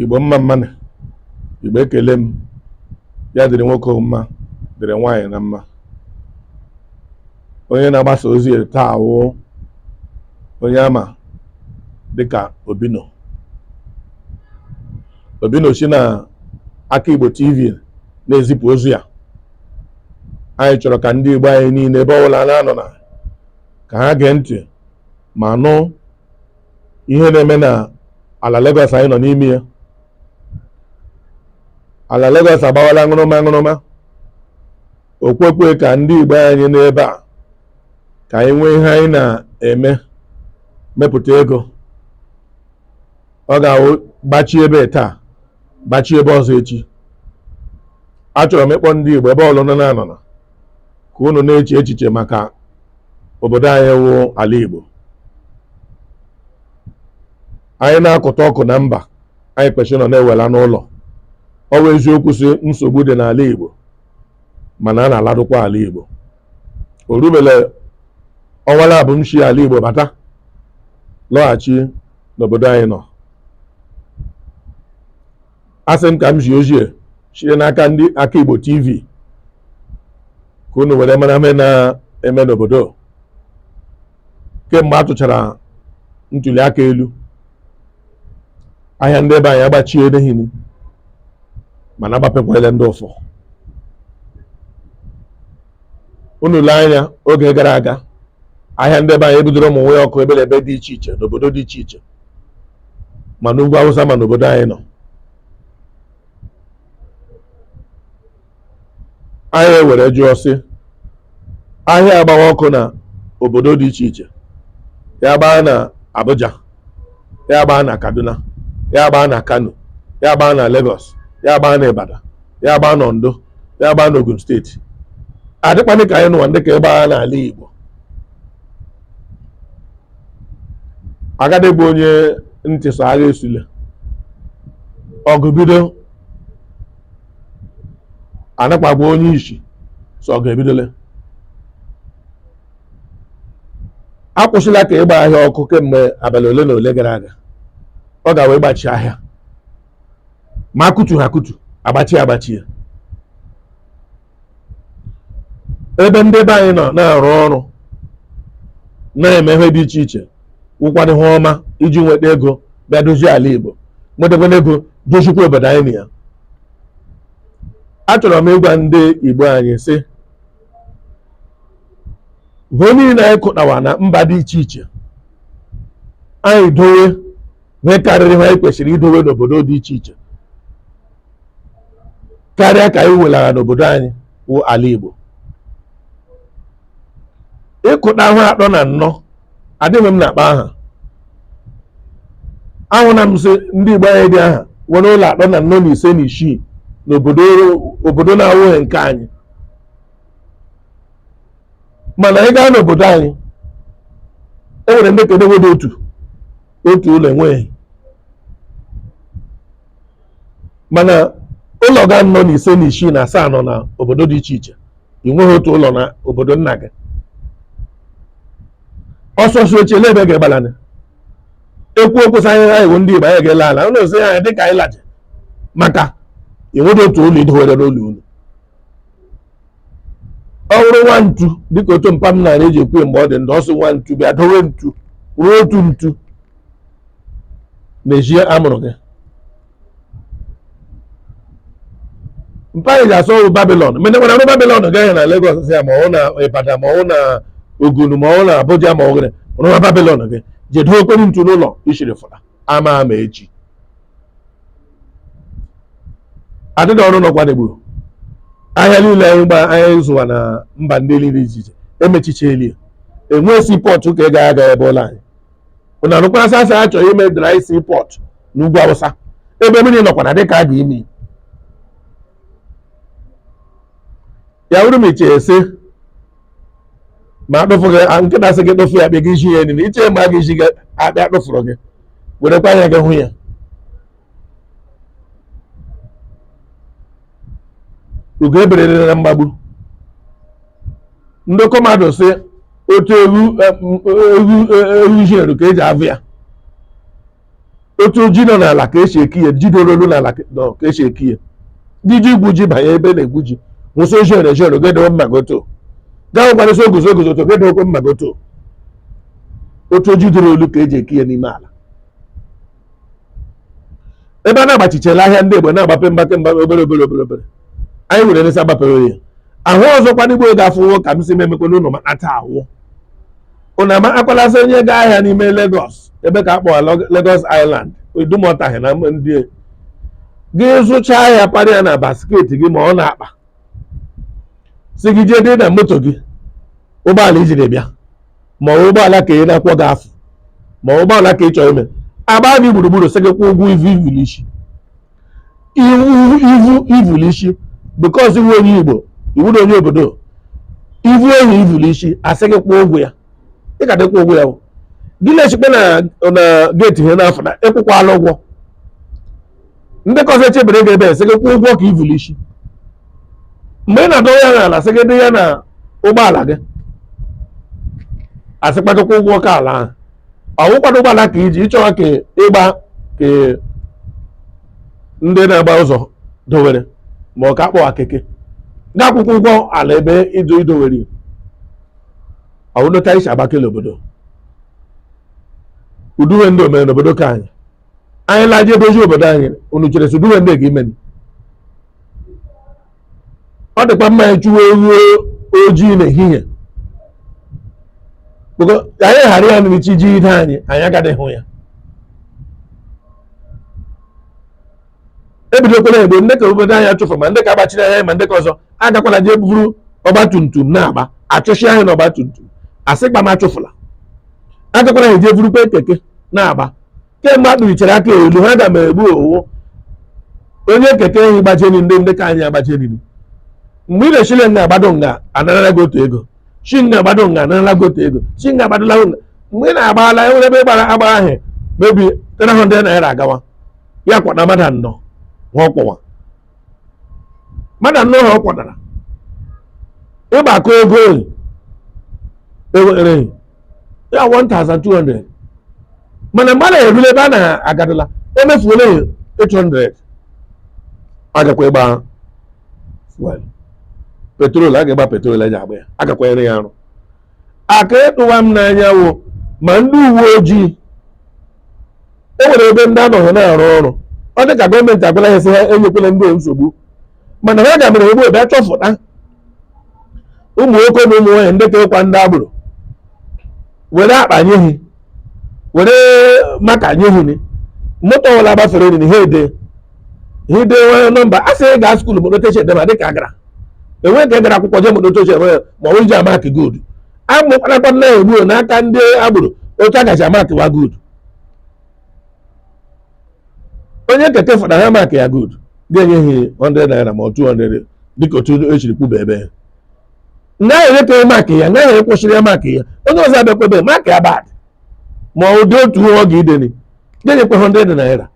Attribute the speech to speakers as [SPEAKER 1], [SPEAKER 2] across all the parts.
[SPEAKER 1] igbo mma mma nụ igbo ekele m ya dịrị nwoke mma dịrị nwaanyị na mma onye na-agbasa ozi taa wụ onye a ma dịka obino obino si na aka igbo tv na-ezipụ ozi ya anyị chọrọ ka ndị igbo anyị niile ebe ọbụla na-anọ na ka ha gee ntị ma nụ ihe na-eme na ala Lagos anyị nọ n'ime ya ala Lagos agbawala ṅụrụma ṅụrụma okwekwe ka ndị Igbo anyị n'ebe a ka anyị nwee ihe anyị na-eme mepụta ego ọ ga-awụ gbachi ebe taa gbachi ebe ọzọ echi achọrọ m ịkpọ ndị Igbo ebe ọbụla na-anọ ka unu na-eche echiche maka obodo anyị wụ ala Igbo anyị na-akụta ọkụ na mba anyị kwesịrị nọ na-ewela n'ụlọ ọ bụ eziokwu sị nsogbu dị n'ala Igbo mana a na-aladụkwa ala Igbo o rubele ọnwa labụ m si ala Igbo bata lọghachi n'obodo anyị nọ asị m ka m zie ozi a sie n'aka ndị aka Igbo TV ka unu were mara ihe na-eme n'obodo kemgbe a tụchara ntuli aka elu ahịa ndị be anyị agbachie edehini mana agbapekwala ndị ụfọ unu lee anya oge gara aga ahịa ndị be anyị e bidoro ịmụnye ọkụ ebe na ebe dị iche iche n'obodo dị iche iche ma n'ugwu awụsa ma n'obodo anyị nọ anyị ewere jụọ sị ahịa agbawa ọkụ na obodo dị iche iche ya gbaa na Abuja ya gbaa na kaduna ya gbaa na kano ya gbaa na lagos ya gbaa na ibadan ya gbaa na ondo ya gbaa na ogun steeti adịkwanị ka anyị nụwa ndị ka ịgbagha n'ala igbo a gadị agwa onye ntị sị agha esule ọgụ bido a nakwa agwa onye isi sị ọgụ ebidole akwụsịla ka ịgba ahịa ọkụ kemgbe abalị ole na ole gara aga ọ gawa ịgbachi ahịa ma kụtu ha akụtu agbachi agbachi ya ebe ndị be anyị nọ na-arụ ọrụ na-eme ihe dị iche iche wụkwana ihe ọma iji nweta ego bịa dozie ala Igbo nwetakwana ego dozikwa obodo anyị nọ ya achọrọ m ịgwa ndị Igbo anyị sị ego niile anyị kụtawa na mba dị iche iche anyị dowe ihe karịrị ihe anyị kwesịrị idowe n'obodo dị iche iche karịa ka anyị welara n'obodo anyị wụ ala Igbo ịkụta ahụ atọ na nnọ adịghị m na-akpa aha ahụna m sị ndị Igbo anyị dị aha nwere ụlọ atọ na nnọ na ise na isii n'obodo obodo na-awụghị nke anyị mana anyị gaa n'obodo anyị e nwere ndị ke dị ọ wụdị otu otu ụlọ enweghị mana ụlọ gị nnọ na ise na isii na asaa nọ na obodo dị iche iche ị nweghị otu ụlọ na obodo nna gị ọsọ su echela ebe ga-agbala na-ekwu okwu sị anyị anyị wụ ndị Igbo anyị ga-ala ala ụlọ ozi anyị dịka anyị laje maka enweghị otu ụlọ idowere n'ụlọ unu ọ wụrụ nwa ntu dịka otu mpa m nara eji ekwu ya mgbe ọ dị ndụ ọ sị nwa ntu bịa dowe ntu ruo otu ntu n'ezi a mụrụ gị mpa anyị ji asị ọ wụ babilon mene nwere rụọ babilon gị ahị na Lagos ya ma ọ wụ na Ibadan ma ọ wụ na Ogun ma ọ wụ na Abuja ma ọ wụ gịrị rụwa babilon gị jee dowe okporo ntu n'ụlọ i shiri fụla ama ama echi adịghị ọrụ nọkwa n'Igbo ahịa niile anyị gba anyị zụwa na mba ndị niile iche iche emechichela ya enwee seaport ka ị ga-aga ebe ụlọ anyị ụna nụkwa a sị sị a chọrọ ime dry seaport n'ugwu Awụsa ebe mmiri nọkwana dịka a ga ime ya wụrụ m echee sị ma akpụfụ gị a, nkịta sị gị kpụfụ ya apịa gị isi ya niile i chee ma a gị isi gị apịa kpụfụrụ gị werekwa anya gị hụ ya ugo eberere na mgbagbu ndị okomadụ sị otu egwu egwu egwu isi eru ka eji avụ ya otu ji nọ n'ala ka esi eki ya ji doro olu n'ala ka- nọ ka esi eki ya ndị ji egwu ji banye ebe na-egwu ji nwụsị oji ere jere gedewe mma goto gaa gwarịsị oguzo oguzo to gedewekwe mma goto otu o ji doro olu ka eji eki ya n'ime ala ebe a na-agbachichela ahịa ndị Igbo na-agbape mgbape mgbape obere obere obere obere anyị were nesa gbapere ya ahụ ọzọkwa n'Igbo ga-afụ ụgwọ ka m si memekwa n'ụlọ ma ata awụ ụna makwala sị onye gaa ahịa n'ime Lagos ebe ka a kpọrọ Log- Lagos Island Idumota ahị na ndị e. gị zụchaa ahịa para ya na basket gị ma ọ n'akpa sị gị jee dị na moto gị ụgbọala ijiri bịa ma ọ bụ ụgbọala ka ị na-akwọ gị afụ ma ọ bụ ụgbọala ka ị chọrọ ime agba gị gburugburu sị gị kwụọ ụgwọ ivu i vu n'ishi i vu ivu l'isi because ị wụ onye igbo ị wụ na onye obodo i vu ehi ivu l'isi a sị gị kwụọ ụgwọ ya ị ka dịkwa ụgwọ ya gị na-echekpa na na geeti ihe n'afọ na ị kwụkwala ụgwọ ndị ka ọzọ echebere gị ebe sị gị kwụọ ụgwọ ka ivu l'isi mgbe ị na-adọrọ ya n'ala sị gị dị ya na ụgbọala gị a sị kpachakwa ụgwọ ka ala ahụ ọ wụkwado ụgbọala ka i ji ị chọwa ka ị gba ka ndị na-agba ụzọ dowere ma ọ ka a kpọwa keke ga-akwụkwa ụgwọ ala ebe ịdụ i dowere ọwụdota isi agbakala obodo ụdị ihe ndị o mere n'obodo ka anyị anyị laje dozie obodo anyị unu chere sị ụdị ihe ndị ga imeni ọ dịkwa mma anyị chụwa ewu ojii n'ehihie because anyị ghara ya ma chi jide anyị anyị agaghị hụ ya ebidokwala egbe ndị ka obodo anyị achụfụla ma ndị ka agbachiri anyị ma ndị ka ọzọ agakwala jee buru ọgba tum tum na-agba achụsịa anyị na ọgba tum tum a sị kpam achụfụla agakwala jee burukwa keke na-agba kemgbe a kpụlichara aka elu ha ga ma egbu ọ wụ onye keke ehi gbajeni ndị ndị ka anyị agbajeni mgbe ị na-eshile nga agbado nga anarala gị otu ego shi nga agbado nga anarala gị otu ego shi nga agbadola gị nga mgbe ị na-agbala e nwere ebe ị gbara agba ahụ maybe 300 naira agawa ya kwọda mmadụ anọ ha ọ kwọwa mmadụ anọ ha ọ kwọdara ị gbakọọ ego oyi e were ya 1200 mana mgbe a na-erule ebe a na-agadala emefuola ya 800 agakwa ịgba fuel petrol a ga ịgba petrol e ji agba ya agakwanyere ya arụ aka ịtụwa m n'anya wụ ma ndị uwe ojii e nwere ebe ndị anọghị na-arụ ọrụ ọ dị ka gọọmenti agwala ha sị ha enyekwala ndị a nsogbu mana ha ga-mere ebe obi achọfụta ụmụ nwoke na ụmụ nwaanyị ndị kekwa ndị agboro were akpa nye ha were marker nye ha ni moto ọbụla gbafere ni ha ede ha ide nwere nọmba a sị gaa skuul moto oche edema dịka agara enweghị ka a gara akwụkwọ jee moto oche edema ma ọ ji amark good amụkwanakwa na egbuo n'aka ndị agboro otu a ga-eji amarkwa good onye keke fụta ha mark ya good ga-enye ha 100 naira ma ọ 200 dịka otu echiri kwuba ebe ya ngaghị enye ka mark ya ngaghị enye kwụsịrị ya mark ya onye ọzọ abịakwa ebe mark ya bad ma ụdị otu ọ ga-ideni ga-enyekwa 100 naira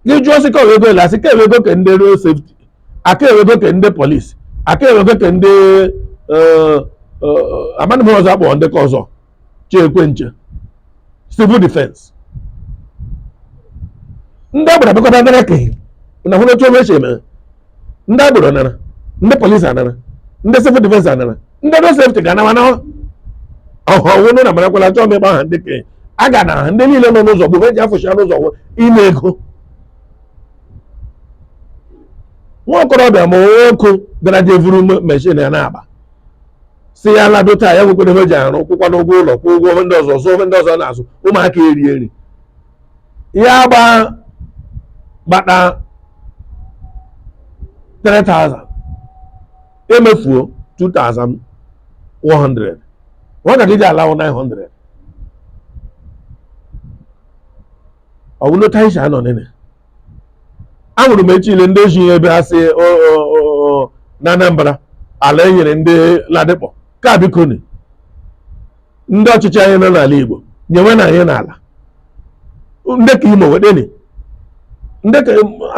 [SPEAKER 1] gị jụọ sị ka ọ wụ ego ele a sị ka ọ wụ ego ke ndị road safety ka ọ wụ ego ke ndị polisi ka ọ wụ ego ke ndị amadị m ọzọ a kpọrọ ndị ka ọzọ chekwe nche civil defense ndị agboro bịakọta nara ka na hụ n'otu meshin ndị agboro anara ndị polisi anara ndị civil defense anara ndị road safety ga anawa na ọhụrụ na marakwala chọọ m ịgba aha ndị ka a ga na ndị niile nọ n'ụzọ gbogbo eji afụcha n'ụzọ ime ego nwa okorobịa ma nwoke gara je vuru meshin ya na-agba sị ya lado taa ya nwekwere ihe o ji arụ kwụkwa n'ụgwọ ụlọ kwụọ ụgwọ ihe ndị ọzọ zụọ ihe ndị ọzọ ọ na-azụ ụmụaka eri eri ya gba gbata 3000 emefuo 2100 nwatakịrị ji ala wụ 900 ọ bụrụ otu anyị si anọ nene ahụrụ m echi ile ndị eji ihe ebe a sị na Anambra ala enyere ndị Ladipo ka bikoni ndị ọchịchị anyị nọ n'ala Igbo nyeweni anyị n'ala ndị ka Imo wedeni dị ka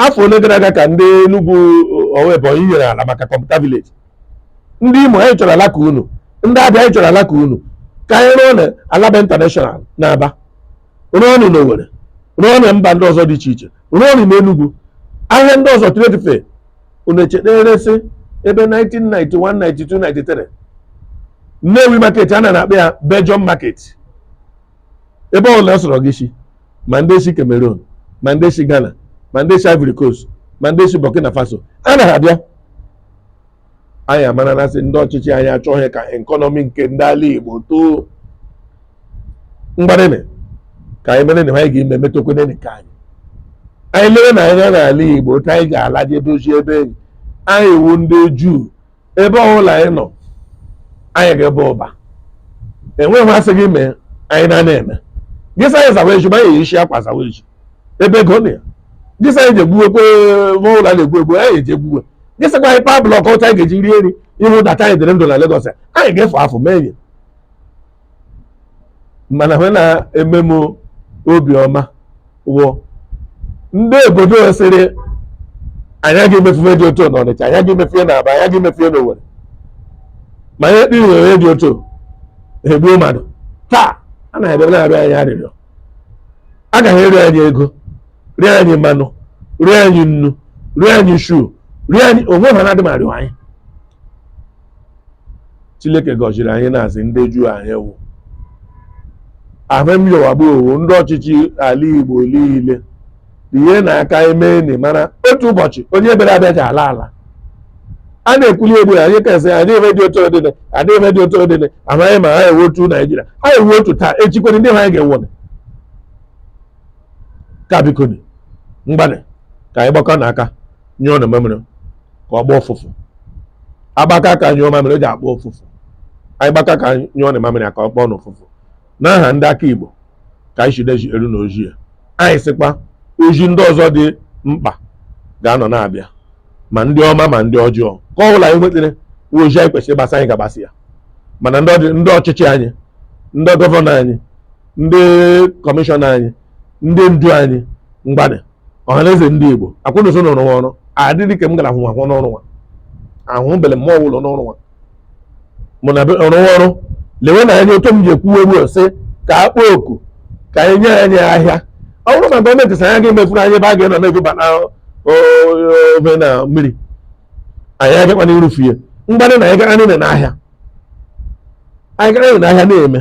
[SPEAKER 1] afọ ole gara aga ka ndị Enugu ọ wụ Ebonyi nyere ala maka computer village ndị Imo anyị chọrọ ala ka unu ndị Abịa anyị chọrọ ala ka unu ka anyị rụọni Alaba International n'Aba rụọni n'Owere rụọni mba ndị ọzọ dị iche iche rụọni n'Enugwu ahịa ndị ọzọ trade fair unu echeteresị ebe 1991 92 93 Nnewi market a na na-akpọ ya Belgium market ebe ọ bụla sọrọ gị si ma ndị si Cameroon ma ndị si Ghana ma ndị si Ivory Coast ma ndị si Burkina Faso a na-abịa anyị amarana sị ndị ọchịchị anyị achọghị ka ekọnọmi nke ndị ala Igbo too ngwanịnị ka anyị meeni ihe anyị ga-eme emetụkwene nke anyị anyị leweni anya n'ala Igbo otu anyị ga-ala je dozie ebe enyi anyị wụ ndị Juu ebe ọbụla anyị nọ anyị ga-aba ụba enweghị ihe a sị gị mee anyị na-anaghị eme gị sị anyị zawa ezi ma anyị eyishi akwa zawa ezi ebe ego nọ ya gị sị anyị je gbuwekwe ma ụlọ a na-egbu egbu anyị eje gbuwe gị sịkwa anyị paa block ọcha anyị ga-eji rie nri ịhụ data anyị dịrị ndụ na Lagos anyị ga-efu afọ mee enyi mana ihe na-eme m obi ọma wụ ndị obodo sịrị anyị agaghị emefufe dị otu na Ọnịcha anyị agaghị emefufe na Aba anyị agaghị emefufe na Owerri ma ihe kpiri were dị otu egbuo mmadụ taa a na-abịa na-arịọ anyị arịrịọ a gaghị eri anyị ego rie anyị mmanụ rie anyị nnu rie anyị shuu rie anyị onwe ha na-adị ma rịọ anyị chineke gọziri anyị na-asị ndị juu anyị wụ ahụ m yọwagbu owo ndị ọchịchị ala igbo niile ihe na-aka eme anyị mana otu ụbọchị onye bịara abịa ji ala ala a na-ekwuli egbu ya anyị kasị anyị eme dị otu odịdị adị eme dị otu odịdị amaghị ma ha ewe otu naijiria ha ewe otu taa echikwere ndị ha anyị ga-enwere ka bikoni ngwanị ka anyị gbakọnụ aka nyụọnụ mamịrị ka ọ gbọọ ụfụfụ a gbakọọ aka nyụọ mamịrị o ji agbọ ụfụfụ anyị gbakọọ aka nyụọnụ mamịrị ka ọ gbọọnụ ụfụfụ n'aha ndị aka Igbo ka anyị chideji eru na ozi a anyị sịkwa ozi ndị ọzọ dị mkpa ga-anọ na-abịa ma ndị ọma ma ndị ọjọọ nke ọ bụla anyị nwetara ozi anyị kwesịrị ịgbasa anyị ga-agbasa ya mana ndị ọchịchị anyị ndị gọvanọ anyị ndị kọmishọna anyị ndị ndu anyị mgbadị ọhaneze ndị Igbo akwụnụso n'ọrụ ọrụ adịghị ka m gara ahụ ahụ n'ọrụ nwa ahụ bere mmụọ ụlọ n'ọrụ nwa mụ na be- rụọ ọrụ lewenụ anya otu m ji ekwuwe ugbu a sị ka a kpọọ oku ka anyị nye anyị ahịa ọ bụrụ na gọọmenti sị anyị ga-emefuru anyị ebe a ga-enọ na-ebuba na o- o- ofe na mmiri anyị agakwa n'irufu ya mgbadị na anyị gara niile n'ahịa anyị gara niile n'ahịa na-eme